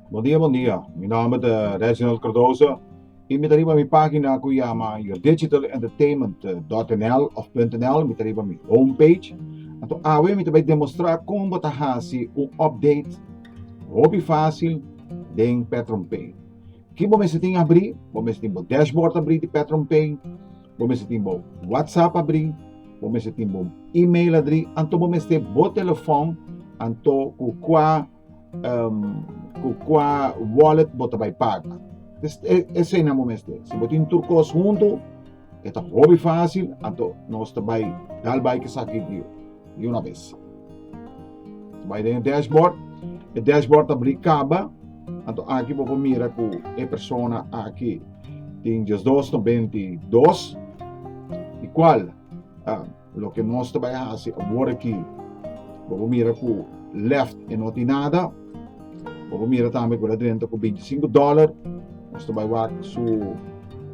Bon dia bon dia mi nomber ta Reginald Cardoso y mi ta riba mi pagina cu yama yourdigitalentertainment.nl of .nl mi ta riba mi home page anto awe mi ta bay demostra con bo ta haci un update hopi facil den Petronpay ki bo mester tin abri bo mester tin bo dashboard abri di Petronpay Bo mester tin bo WhatsApp abrí, bo mester tin bo email adrí, anto bo mester bo telefòn, anto ku kua um, ku kua wallet bo ta bai paga. Es, e, eseinan bo mester. Si bo tin tur kos huntu, e ta hobi fásil, anto nos ta bai dal bai kesaki di di una bes. Bai den e dashboard, e dashboard ta bri kaba, anto aki bo por mira ku e persona aki tin diosdos no bentidos, di kual uh, loke nos ta bai hasi awor aki, bo por mira ku left e no tin nada, bo por mira tambe ku la drenta ku 25 dollar, nos ta bai wak su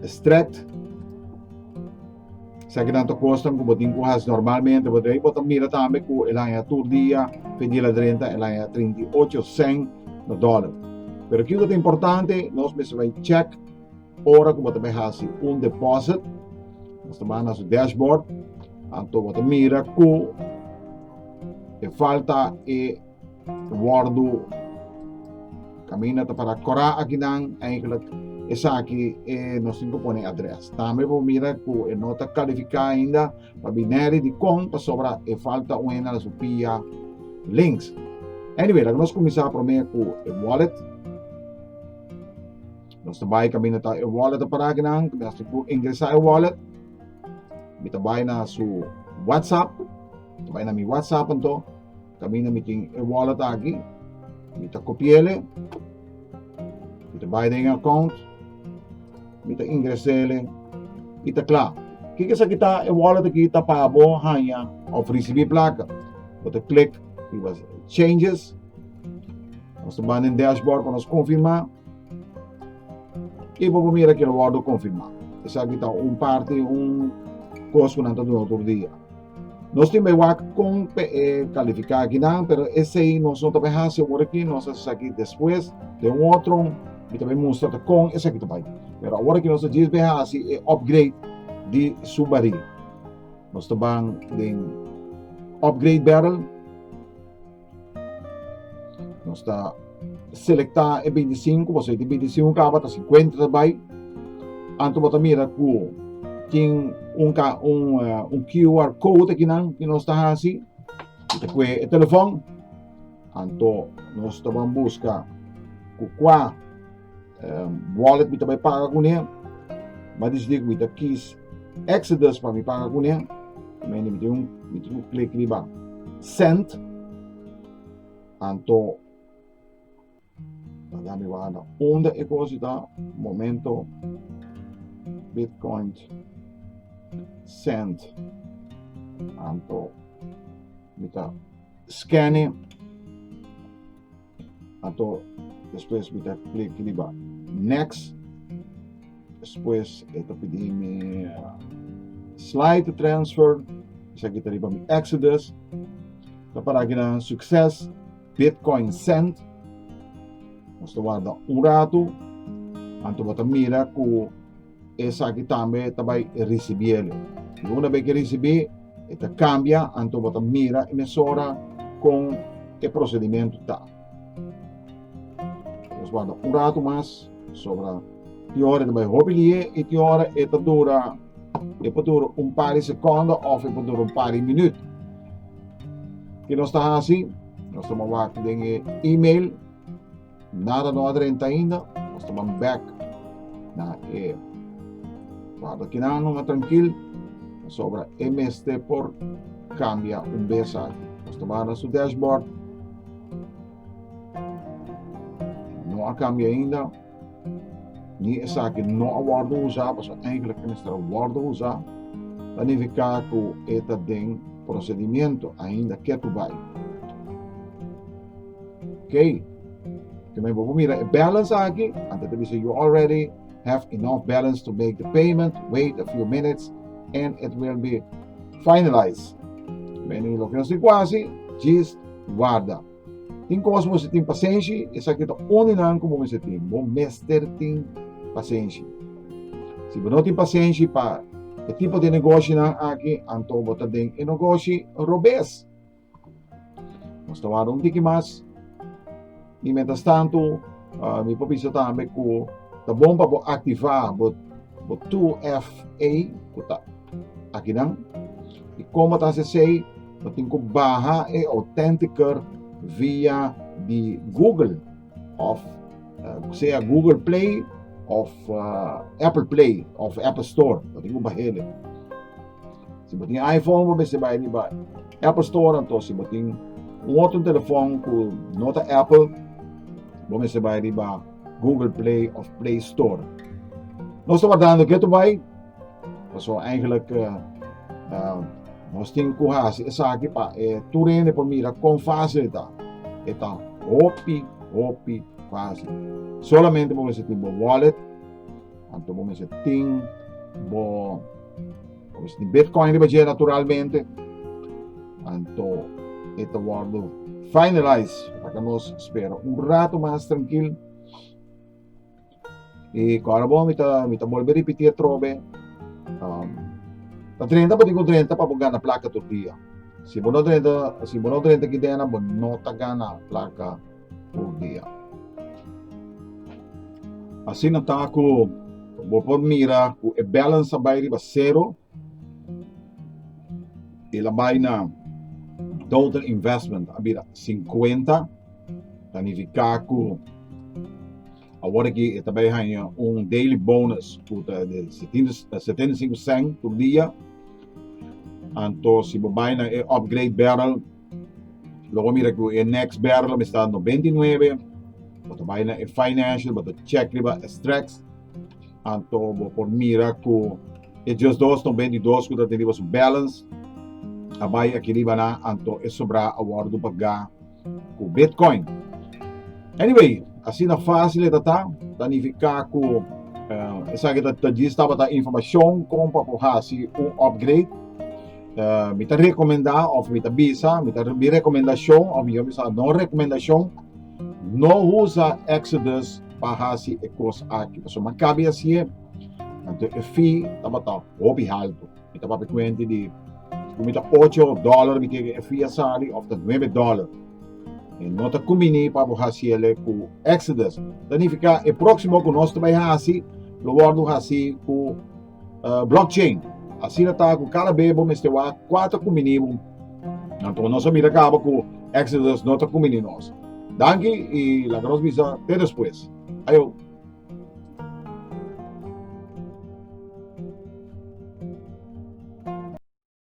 extract, Sa ki tanto kosnan ku bo tin ku has normalmente bo drei, bo ta mira tambe ku el haña tur dia, fedil a drenta, el haña 38 sen na dòler. Pero kiko ta importante, nos mester bai check ora ku bo ta bai hasi un deposit, nos ta bai na su dashboard, anto bo ta mira ku e falta e Wordo Caminda ta para cora akinan eigenlijk esaki e nos tin cu pone adres. Tambe bo mira cu e no ta califica ainda pa bineri dicon pasobra e falta un hende na su pia links. Anyway, laga nos cominsa prome cu e wallet. Nos ta bai caminda ta e wallet ta para akinan. Nos tin cu ingresa e wallet. Mi ta bai na su WhatsApp. Ta bai na mi WhatsApp anto. Tamina mi tin e wallet aki. Mi ta kopiele. Mi ta bai den account. Mi ta ingresele. I ta kla. Kiko sa ki ta e wallet aki ta pa bo haya of risibi plaka. Bo ta klik riba changes. Nos ta ban den dashboard pa nos konfirma. I bo por mira ke lo wordo konfirma. Esaki ta un parti, un kos ku nan ta duna tur dia. Nos tin bay wak con p'e califica akinan, pero esey nos no ta bay hasi awor aki, nos ta esaki despues den un otro, mi ta bay mustra ta con esaki ta bay. Pero awor aki nos ta djis bay hasi e upgrade di Subari. Nos ta ban den upgrade barrel. Nos ta selecta e 25, bo sei di 25 caba, ta 50 ta bai. Anto bo ta mira cu tin un, ca, un, uh, un QR code aquí nan, que nos ta hasi. Te cue e telefon. Anto nos ta van busca cu qua uh, wallet mi ta bai paga cu ne ma dis dia mi ta kies exodus pa mi paga cu ne mi mi tem un mi tem un click riba send anto dan mi wanda onda e cosa ta momento bitcoin send anto mi ta scanning Anto despues mi ta klik riba next despues e ta pidi mi slide to transfer esaki ta riba mi exodus ta para aki nan succes bitcoin send nos ta warda un rato anto bo ta mira ku Esaki tambe ta bai risibiele. I una be ke risibí, e ta kambia, anto bo ta mira e mesora kon e prosedimentu ta. Nos wanda un ratu mas, sobra tin ora e ta bai hopi lié i tin ora e ta dura, e por dura un par di sekondo òf e por dura un par di minüt. Ke nos ta hasi? Nos ta mová den e email. Nada no a drenta ainda, nos ta ban bek na e cuarto kinan no trankil, pasobra e mes te por cambia un bes aki. Nos ta ban na su dashboard, no a cambia ainda, ni esaki no a wordo usa, paso eigenlijk e mester wordo usa, ta nifica cu e ta den procedimento ainda ketu bay. Key tin men bo por mira e balance aki, antes ta bisa you already have enough balance to make the payment, wait a few minutes and it will be finalized. Men in loke situatie, just guarda. Tin cos bo se tin pasenshi, esaki ta uni nan ku bo mester tin, bo mester tin pasenshi. Si bo no tin pasenshi pa e tipo di negoshi nan aki, anto bo ta den e negoshi robes. Nos ta wardá un tiki mas. I mientrastantu, mi por bisa tambe ku ta bon pa bo aktivá bo bo 2FA ku ta akinan. I komo ta hasi esei? Bo tin ku baha e Authenticator via di Google òf sea Google Play òf Apple Play òf Apple Store. Bo tin ku baha e. Si bo tin iPhone bo mester bai riba Apple Store anto si bo tin un otro telefon ku no ta Apple bo mester bai riba Google Play of Play Store. Nos ta wardando geto bai paso eigenlijk uh, uh, nos tin ku hasi esaki pa e eh, turende por mira kon fácil ta. Eta hopi hopi fácil. Solamente bo mester tin bo wallet Anto bo mester tin bo pues di Bitcoin riba dje naturalmente. Anto ete wordo finalize para que nos spera un rato mas tranquil. E kora bo mi ta mi ta bolbe repetir trobe. Um, ta drenta bo digo drenta para bo gana placa tur dia. Si bo no drenta, si bo no drenta ki dena, bo no ta gana placa por dia. Asina ta ku bo por mira ku e balance a bai riba sero i el a bai na total investment a bira sinkuenta. Ta nifiká ku awor aki e ta bai haña un daily bonus ku ta di setenta i sinku sènt tur dia. Anto si bo bai na e upgrade barrel. Lo bo mira ku e next bèrla mi sta noventa i nuebe, bo ta bai na e financial, bo ta chèk riba e strèks, anto bo por mira ku e just dos noventa i dos ku ta tin riba su balance a bai aki riba nan, anto e sobrá a wòrdu pagá ku bitcoin. Anyway, asina fásil e ta ta, ta nifiká ku esaki ta djis tabata informashon kon pa por hasi un upgrade. Uh, mi ta recomenda of mi ta bisa, mi ta mi recomendacion of mi yo bisa no recomendacion, no usa Exodus pa hasi e cos aki. Paso man cabe así e, anto e fee tabata hopi alto. Mi ta papi cuente di, mi ta 8 dollar mi kege e fee asali of ta 9 dollar. E no ta combini pa bo hasi ele cu Exodus. Ta nifica e proximo cu nos ta bai hasi, lo wordo hasi cu uh, blockchain. Asina ta ku kada be bo mester wa kuater ku minimum. Anto nos a mira kaba ku Exodus no ta kumi ni nos. Danki i la nos bisa te despues. Ayo.